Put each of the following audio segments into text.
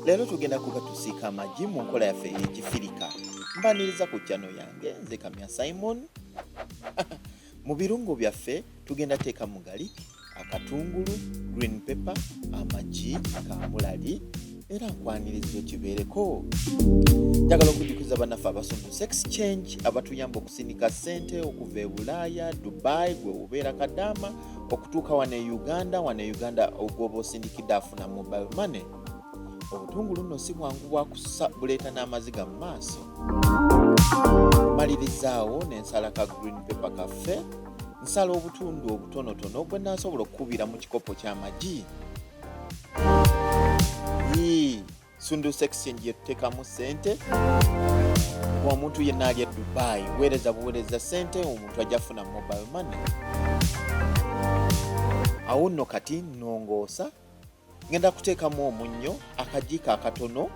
leero tugenda kuba tusiika amagi mu nkola yaffe ey'ekifirika mbaniriza ku kyano yange nze kamya simon mu birungo byaffe tugenda teeka mu gali akatungulu green pepper amagi kamulali era nkwaniriza okibeereko njagala okujukiza banaffe abasomesa sex change abatuyamba okusinika ssente okuva e bulaaya dubai gwe obeera kadaama okutuuka wano e uganda wano e uganda ogwoba osindikidde afuna mobile money obutungulu nno si bwangu bwakusa buleeta n'amaziga mu maaso malirizaawo nensala ka green paper kaffe nsala obutundu obutonotono gwe nasobola okukubira mu kikopo ky'amagi sunduusa exchange yetutekamu sente omuntu yenna ali e dubai weereza buweereza sente omuntu ajja funa mobile money awo nno kati nongoosa ngenda kuteekamu omunnyo akajiiko akatono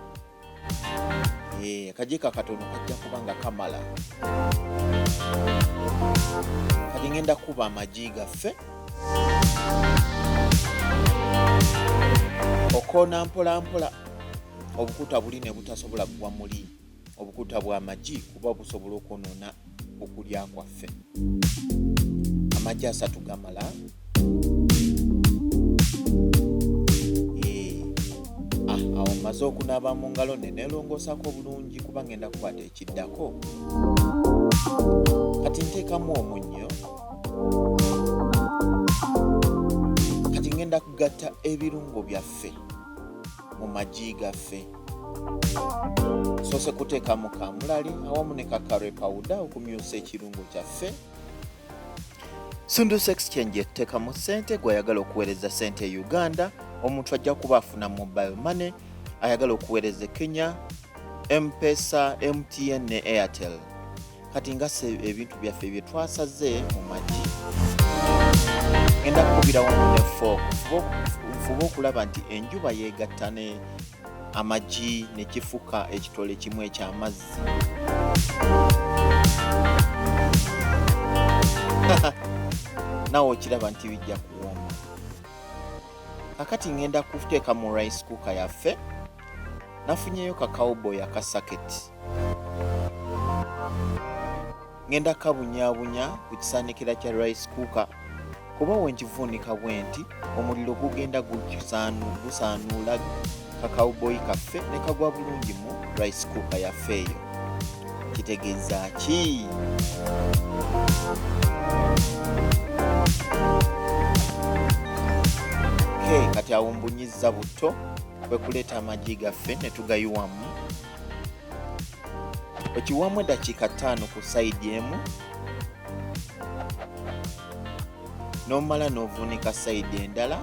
eh, akajiiko akatono kajja kuba nga kamala kati ngenda kuba amagi gaffe okoona mpolampola obukuta buli ne butasobola kugwa muli obukuta bwa magi kuba busobola okwonoona okulya kwaffe amagi asatu gamala eh, ah, awo maze okunaaba mu ngalo ne nelongoosako obulungi kuba ngenda kukwata ekiddako kati nteekamu omunnyo kati ngenda kugatta ebirungo byaffe mu magi gaffe soose kuteekamu kamulali awamu ne kakare pawuda okumyusa ekirungo kyaffe sundu sex change eteekamu ssente gweyagala okuweereza ssente e uganda omuntu ajja kuba afuna mobile money ayagala okuweereza e kenya mpesa mtn ne airtel kati ngasa ebintu byaffe bye twasaze mu magi ngenda kukubirawo ne fork nfuba okulaba nti enjuba yeegatta ne amagi ne kifuka ekitole kimu eky'amazzi nawe okiraba nti bijja kuwoma kakati ngenda kuteeka mu rice cooker yaffe nafunyeyo kakawboy akasaketi ngenda kabunyabunya ku kisaanikira kya rice cooker kuba wenkivuunika bwenti omuliro gugenda gusaanuula kakawuboyi kaffe ne kagwa bulungi mu rice cooker yaffe eyo kitegeeza ki kati awumbunyiza butto kwe kuleeta amagi gaffe ne tugayiwamu okiwamu eddakiika ttaano ku sayidi emu nomala novunika sayidi endala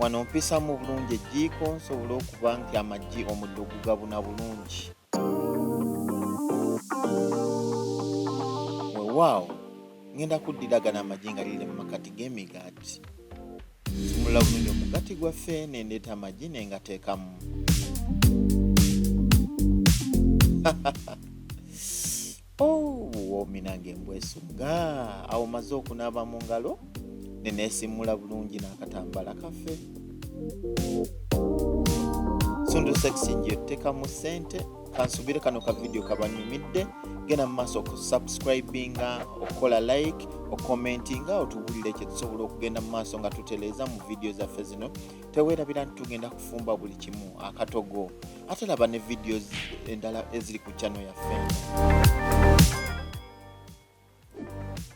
wano mpisamu bulungi ejjiiko nsobole okuba nti amagi omuddo gugabuna bulungi wewaawo ngenda kuddira gana amagi nga liri mu makati g'emigaati nsumulula bulungi omugati gwaffe nendeeta amagi nengateekamu obuwoomi oh, nange mbwesugga awo maze okunaaba mu ngalo neneesimmula bulungi n'akatambala kaffe sundu sexing yotteka mu ssente kansubire kano ka vidiyo kabanyumidde genda mu maaso okusubscribinga okukola like okukomentinga otubulire kyetusobola okugenda mu maaso nga tuteleeza mu vidiyo zaffe zino teweerabira nti tugenda kufumba buli kimu akatogo ate laba ne videos endala eziri ku channel yaffe